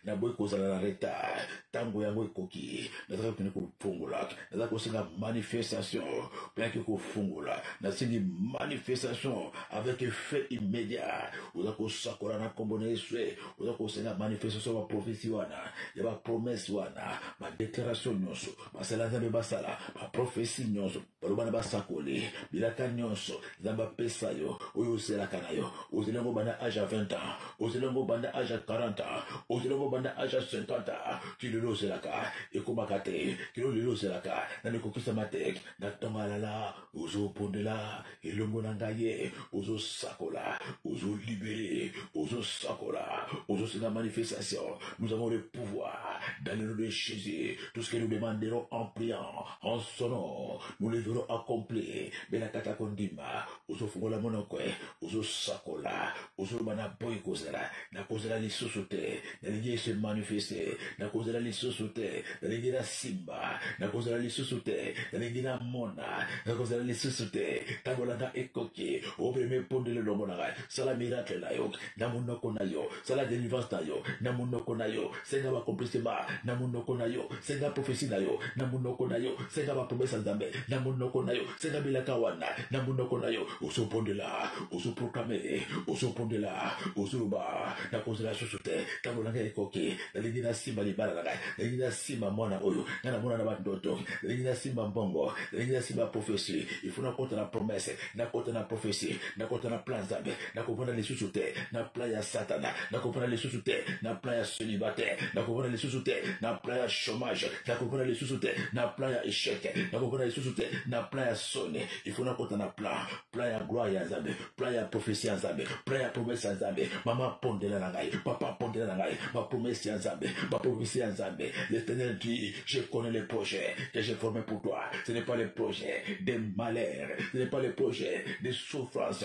naboyi kozala na retard ntango yango ekoki nazali kokende kofongola naza kosenga manifestation mpo yaki kofungola nasengi manifestation avec effet immédiat oza kosakola na nkombo na yesu oza kosenga manifestation ya baprofesi wana ya bapromese wana badeklaration nyonso basala nzambe basala baprofesi nyonso baloba na basakoli bilaka nyonso nzambe apesa yo oyo ozelaka na yo ozeli yango banda age ya 20 ans ozela yango banda age ya 40 ans ozela yango banda age ya 50 ans ti lelo ozelaka ekomaka te kilo lelo ozelaka nani ekokisama te na ntongo alala ozobondela elongo na ngai ye ozosakola ozolibere ozosakola ozosenga manifestation nous avons le pouvoir dans le nom de jésus tout ce que nous demanderons en priant en son nom nous le verrons accompli benakata kondima ozofungola monoko eh, ozosakola ozoloba na boyi kozela nakozela lisusu te nalingi ese manifeste nakozela lisusu te nalingi nasimba nakozela lisusu te nalingi namona nakozela lisusu te ntango na nga ekoki opremie pondele elongo na ngai sala miracle na yo na monoko na yo sala delivrance na yo na monoko na yo senga bakomplisema na monoko na yo senga profesi na yo na monoko na yo senga bapromesa nzambe na monoko na yo senga bilaka wana na monoko na yo ozobondela ozoproklame ozobondela ozoloba nakozela susu te ntango na ngai ekoki nalingi nasimba libala na ngai nalingi nasimba mwana oyo ngai namona na bandoto nalingi nasimba mbongo nalingi nasimba profesi ifo nakota na promese nakota na profesi nakota na plan nzambe nakofanda lisusu te na plan ya satana nakofanda lisusu te na plan ya célibataire nakofanda lisusu te na plan ya chômage nakofanda lisusu te na plan ya échec nakofanda lisusu te na plan ya soni ifo nakota na plan plan ya gloire ya nzambe plan ya prophétie ya nzambe plan ya promesse ya nzambe mama pondela na ngai papa pondela na ngai bapromesse ya nzambe baprophétie ya nzambe l'éternel dit je connais les projets que j'ai formé pour toi ce n'est pas les projets des malheurs ce n'est pas les projets des souffrances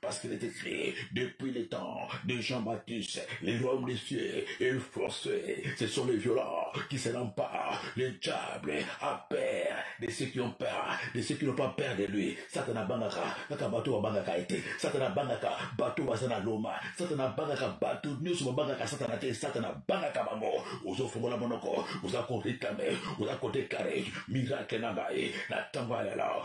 Parce qu'il est écrit, depuis les temps de Jean-Baptiste, les royaumes des cieux est forcé. Ce sont les violents qui se pas. Le diable a peur de ceux qui ont peur, de ceux qui n'ont pas peur de lui. Satana bangaka, kaka bato wa bangaka ete. Satana bangaka, bato baza na loma. Satana bangaka, bato nyonso babangaka satana te. Satana bangaka bango. Ozo fongola monoko, oza ko réclamer, oza ko déclarer miracle na ngai. Na tango ya lelo,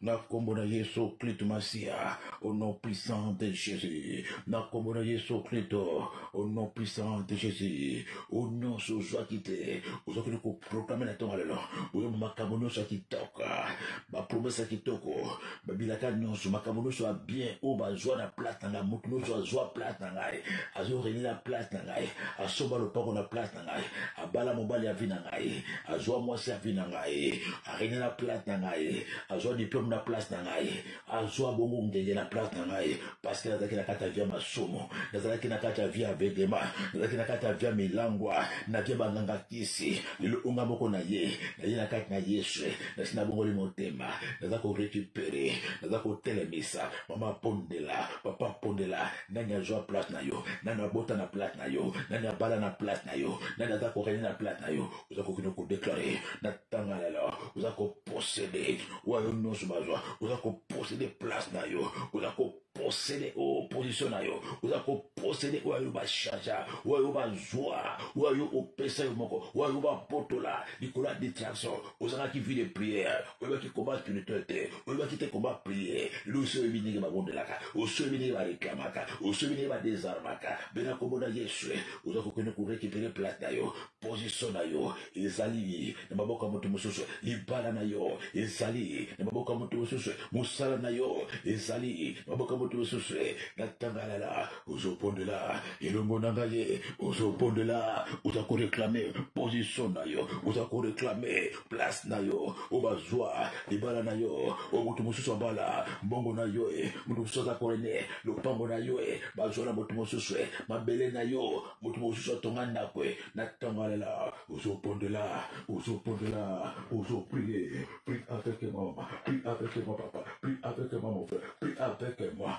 na kombo na yesu kristo masiya au nom puissant de jésus na kombo na yesu kristo au nom puissant de jésus o nyonso ozwaki te ozokende koprograme na ntongo lelo oyo makambo nyonso ya kitoko bapromese ya kitoko babilaka nyonso makambo nyonso ya bien oyo bazwa na plate na ngai moto nyonso azwa plate na ngai azorelela plate na ngai asomba lopako na plate ngai abala mobali ya vi na ngai azwa mwasi ya vi na ngai arene na plate na ngai azwa diplome na place na ngai azwa bongo ngenge na place na ngai parce que nazalaki na kati ya vi ya masumu nazalaki na kati ya vi ya vedema nazalaki na kati ya vi ya milangwa na vi ya banganga kisi lelo onga moko na ye naye na kati na yesu nasi nabongoli motema naza korecupere naza kotelemisa mama pondela papa pondela nani azwa plate na yo nani abota na plate na yo nani abala na plate na yo nani aza korene na plate na yo oza kokende kodeklare na ntanga lelo oza koposede wayo nyonso bazwa oza koposede place na yo oza ko posede o position na yo oza koposede oyo ayo bachargea oyo ayo bazwa oyo ayo opesa yo moko oyo ayo bapotola likolo ya distraction ozalaki vie de prière oyebaki koma spirituel te oyebaki te koma prière lelo osi oyebi ndenge babondelaka osi oyebi ndenge bareklamaka osi oyebi ndenge badesarmaka mpe na nkombo na yesu oza kokende korekipere plate na yo posiso na yo ezali na maboko ya moto mosusu libala na yo ezali na maboko ya moto mosusu mosala na yo ezali na maboko ya moto mosusu na tangalala ozobondela elongo na ngai ye ozobondela oza koreklame position na yo oza koreklame place na yo oyo bazwa libala na yo oyo moto mosusu abala mbongo na yo e moto mosusu aza korene lopango na yo e bazwa na moto mosusu e mabele na yo moto mosusu atonga ndako e na ntango alela ozobondela ozobondela ozoprie prie avec moi prie avec moi papa prie avec moi mon frère prie avec moi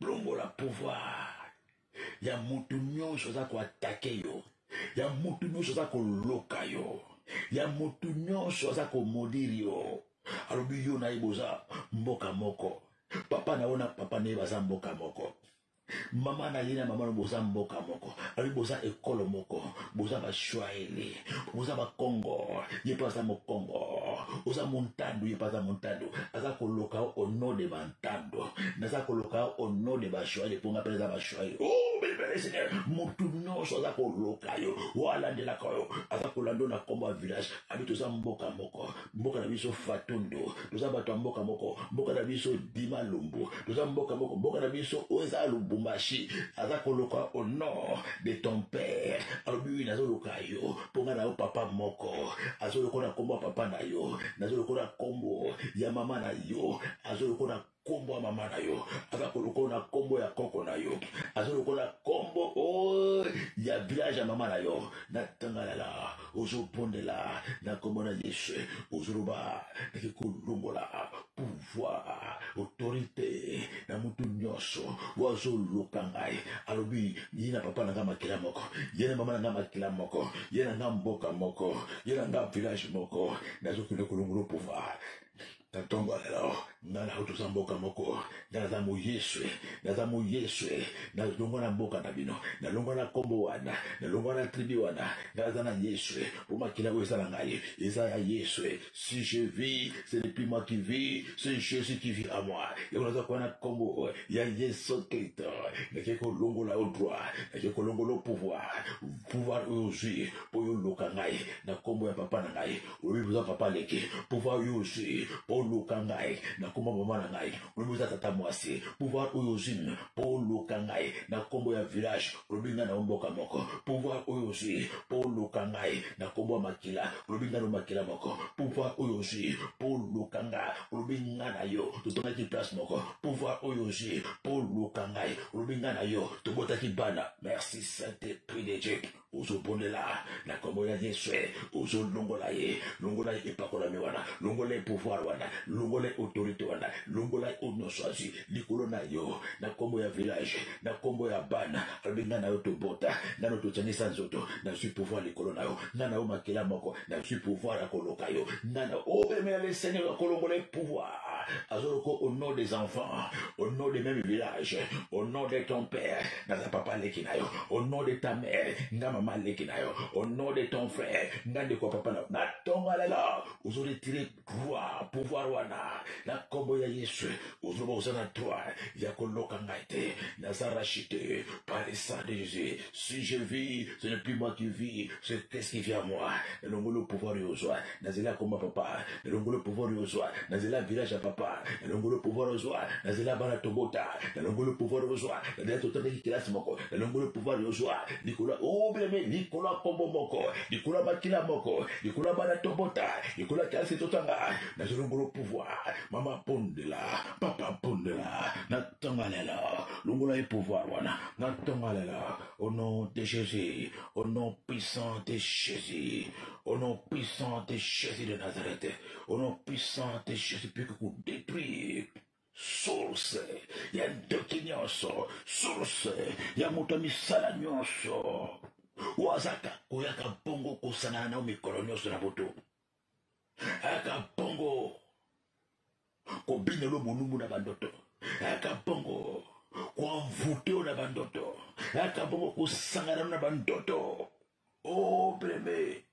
kolongola pouvoir ya motu nyonso aza koatake yo ya motu nyonso aza koloka yo ya motu nyonso aza komodiri yo alobi yo na ye boza mboka moko papa na yo na papa na ye baza mboka moko mama na ye na mama no boza mboka moko abi boza ekolo moko boza bashwaele boza bakongo ye mpe aza mokongo oza montandu ye mpe aza montandu aza koloka o nom de bantandu naza koloka o nom de bashwaele mpo nga mpe naza bashwaele o oh, belebele seigneur motu nyonso aza koloka yo o alandelaka yo aza kolanda yo na nkombo ya village abi toza mboka moko mboka na biso fatondo toza bato ya mboka moko mboka na biso dima lumbu toza mboka moko mboka na biso oyo eza lubumbashi aza koloka au nord de ton père alobi wi nazoluka yo mpo ngai na yo papa moko azolokola nkombo ya papa na yo nazolokola nkombo ya mama na yo azolokola kombo ya mama na yo aza kolokola na kombo ya koko na yo aza lokola kombo oh, ya village ya mama na yo natangalala ozobondela na kombo na yesu ozoloba nake kolongola pouvoir autorité na motu nyonso oyo azoluka ngai alobi ye na papa na ngai makila moko ye na mama na ngai makila moko ye na ngai mboka moko ye na ngai village moko nazokende kolongola pouvoir na ntongo ya lelo ngai nayo toza mboka moko ngai naza moyeswe naza moyeswe nalongwa na mboka na bino nalongwa na nkombo wana nalongwa na tribi wana ngai naza na yeswe mpo makila oyo eza na ngai eza ya yeswe si je vis ce n'est plus moi qui vis c'est jésus qui vit à moi yango naza kuwa na nkombo ya yesu kristo nake kolongola yo droit nake kolongola yo pouvoir pouvoir oyo ozwi mpo yo oloka ngai na nkombo ya papa na ngai oyebi boza papa leki pouvoir oyo ozwi mpo oluka ngai na nkombo ya mama na ngai olobi oza tata mwasi pouvoir oyo ozwi mpo oluka ngai na nkombo ya village olobi ngai na mboka moko pouvoir oyo ozwi mpo oluka ngai na nkombo ya makila olobi ngai na makila moko pouvoir oyo ozwi mpo oluka ngai olobi ngai na yo totongaki place moko pouvoir oyo ozwi mpo oluka ngai olobi ngai na yo tobotaki bana merci saint esprit de dieu ozobondela na kombo ya yesu ozolongola ye longola ye epakolami wana longola ye pouvoir wana longola ye autorité wana longola ye oyo nyonso azwi likolo na yo na kombo ya village na kombo ya bana alobi ngai na yo tobota nano tozangisa nzoto nazwi pouvoir likolo na yo ngai na yo makila moko nazwi pouvoir ya koloka yo nana obemela le seigneur ya kolongola ye pouvoir azoloka au nom des enfants au nom de même village au nom de ton père naza papa leki na yo au nom de ta mère nga mama leki na yo au nom de ton frère nga ndeko ya papa na yo natonga lelo ozoretire Gloire, pouvoir wana na kombo ya Yesu ozoba oza na droit ya koloka ngai te naza racheté par le sang de Jésus si je vis ce n'est plus moi qui vis c'est qu'est-ce qui vient à moi nalongoli pouvoir yo ozwa nazela komba papa nalongoli pouvoir yo ozwa nazela village ya papa nalongoli pouvoir ozwa nazela bana tobota nalongoli pouvoir ozwa nazela totangaki kelasi moko nalongoli pouvoir yo ozwa likolo obeleme likolo ya kombo moko likolo ya makila moko likolo ya bana tobota likolo ya kelasi totanga nazwi longola pouvoir mama pondela papa pondela natonga lelo longola ye pouvoir wana natonga lelo au nom de jésus au nom puissant de jésus au nom puissant de jésus de nazareth au nom puissant de jésus puke kodétruire source ya ndoki nyonso source ya moto ya misala nyonso oyo azaka koyaka bongo kosangana nao mikolo nyonso na boto ayaka bongo kobinelo molumbu na bandoto ayaka bongo koanvute oyo na bandoto ayaka bongo kosangana na bandoto o oh, preme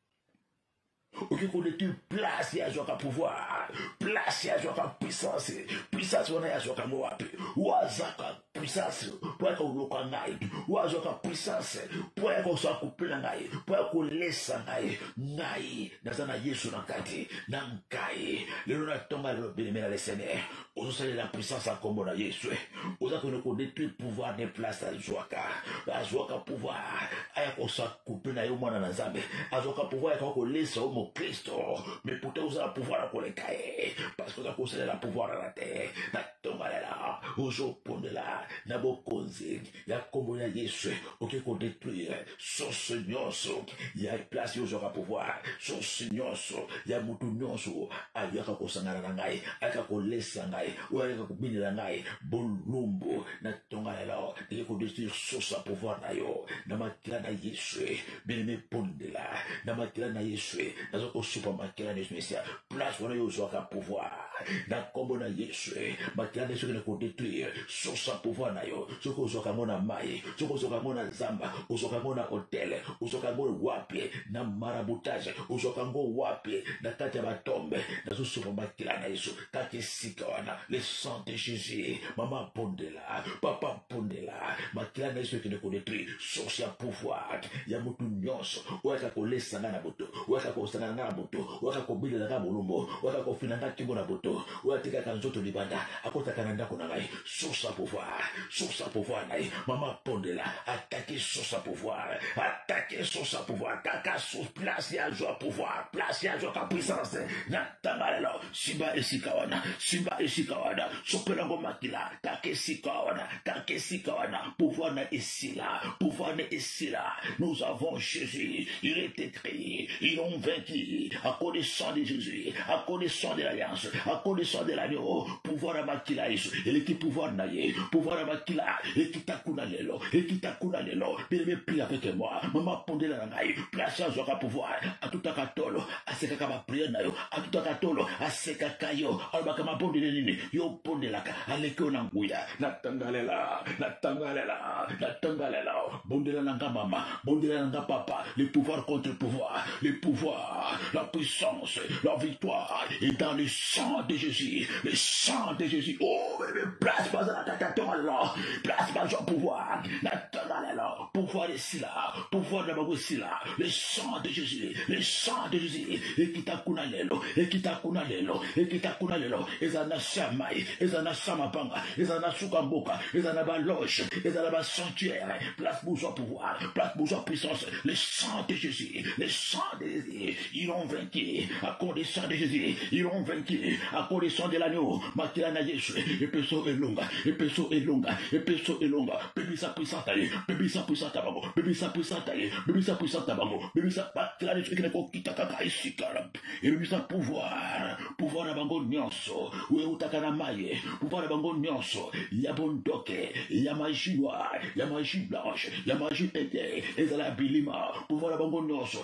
oki koleki place ya zwaka pouvoir place ya zwaka puissance puissance wana ya zwaka ngo wapi wazaka puissance mpo ya koloka ngai wazwaka puissance mpo ya kosa kopela ngai mpo ya kolesa ngai ngai naza na yesu na kati na ngai lelo na ntonga lelo belemela le seigneur ozosalela puissance ya nkombo na yesu eh. oza kende kodetruire pouvoir de place azwaka azwaka pouvoir aya kosakupe na yo mwana na nzambe azwaka pouvoir yakaka kolesa yo mokristo me puta ozala pouvoir ya koleka ye parce que oza kosalela pouvoir na te na tongalela ozopondela na bokonzi ya nkombo ya yesu oke kodetruire source nyonso ya place yo ozwaka pouvoir source nyonso ya motu nyonso ayaka kosangana na ngai ayaka kolesa ngai oyo ayaka kobinela ngai bolumbu na tonga lelo eke kodetruire source ya pouvoir na yo na makila na yesu bino mibondela na makila na yesu naza kosupa makila na yesu mesia place wana yo ozwaka pouvoir na nkombo na yesu makila nde soki na kodetruire source ya pouvoir na yo soki ozwaka yango na mai soki ozwaka yango na zamba ozwaka yango na hotel ozwaka yango wapi na marabutage ozwaka yango wapi na kati ya batombe nazosopa makila na yesu kati esika wana le sang de jésus mama abondela papa mpundela makila na yesu ekende kodetruire source ya pouvoir ya motu nyonso oyo aka kolesa ngai na moto oyo aka kosangana ngai na moto oyo aka kobelela ngai molumbo oyo aka kofina ngai nkingo na moto oyo atikaka nzoto libanda akotaka na ndako na ngai source ya pouvoir source ya pouvoir na ye mama mpundela atake source ya pouvoir atake source ya pouvoir kaka place ya zwa pouvoir place ya zwa ka puissance tanga lelo simba esika wana simba esika wana sopela yango makila taka esika wana taka esika wana pouvoir na esila pouvoir na esila nous avons jésus il est écrit ils ont vaincu à cause du sang de jésus à cause du sang de l'alliance à cause du sang de l'agneau pouvoir ya makila yesu eleki pouvoir na ye pouvoir ya makila ekita kuna lelo ekita kuna lelo bien aime prie avec moi mama pondela na ngai place azwaka pouvoir atutaka tolo asekaka bapriere na yo atutaka tolo asekaka yo alobaka mabondeli nini yo obondelaka aleki yo na nguya natangalela natangalela natangalela bondela na nga mama bondela na nga papa le pouvoir contre pouvoir le pouvoir la puissance la victoire est dans le sang de jésus le sang de jésus oh bebe place bazalaka tatongalela place bazwa pouvoir natangalela pouvoir esila pouvoir na bango esila le sang de jésus le sang de jésus ekita kuna lelo ekita kuna lelo ekita kuna lelo ezala na se ya mai ezala na se ya mabanga ezala na suka mboka ezala na baloge ezala na basanctuaire place bozwa pouvoir place bozwa puissance le sang de jésus le sang de jésus Ils ont vaincu à cause du sang de Jésus. Ils ont vaincu à cause du sang de l'agneau. Makila na Yesu. Epeso elonga. Epeso elonga. Epeso elonga. Bebisa puissance taye. Bebisa puissance tabango. Bebisa puissance taye. Bebisa puissance tabango. Bebisa makila na Yesu. Ekene ko kita kaka isikara. Ebebisa pouvoir. Pouvoir na bango nyonso. Oyo utaka na maye. Pouvoir na bango nyonso. Ya bondoke. Ya magie noire. Ya magie blanche. Ya magie ete. Ezala bilima. Pouvoir na bango nyonso.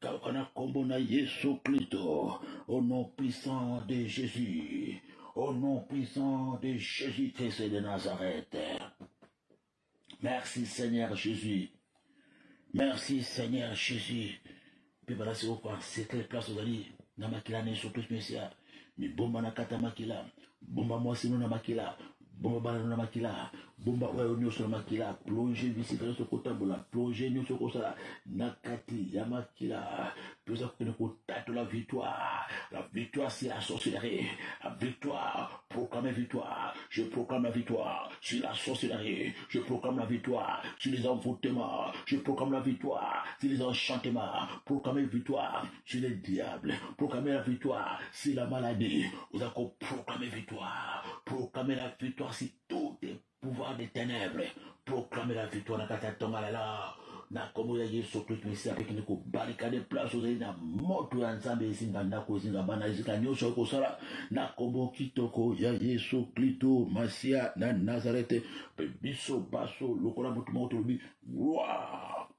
kaka na nkombo na yesu kristo au nom puissant de jésus au nom puissant de jésus christ de nazareth merci seigneur jésus merci seigneur jésus mpe bala sikoyo koansete place ozali na makila na yesu kristo mesiya mibomba na kata makila bomba mwasi no na makila bomba bana no na makila bomba oyo nyonso na makila plonge bisika nyonso kotambola plonge nyonso kosala na kati ya makila toza kokende kotatola victoire la victoire c'est la sorcellerie la victoire proclame victoire je proclame la victoire sur la sorcellerie je proclame la victoire sur les envoûtements je proclame la victoire sur les enchantements proclame victoire Je le diable, proclamer la victoire, c'est la maladie. Vous avez proclamer victoire, proclamer la victoire, c'est tout le pouvoir des ténèbres. Proclamer la victoire, n'a kata tonga la la. Na komo ya Yesu Christ mesi avec ni ko barricade place ozali na moto ya Nzambe ezinga ndako ezinga bana ezinga nyonso oyo kosala na komo kitoko ya Yesu Kristo Masia na Nazarete mpe biso baso lokola moto moko tolobi gloire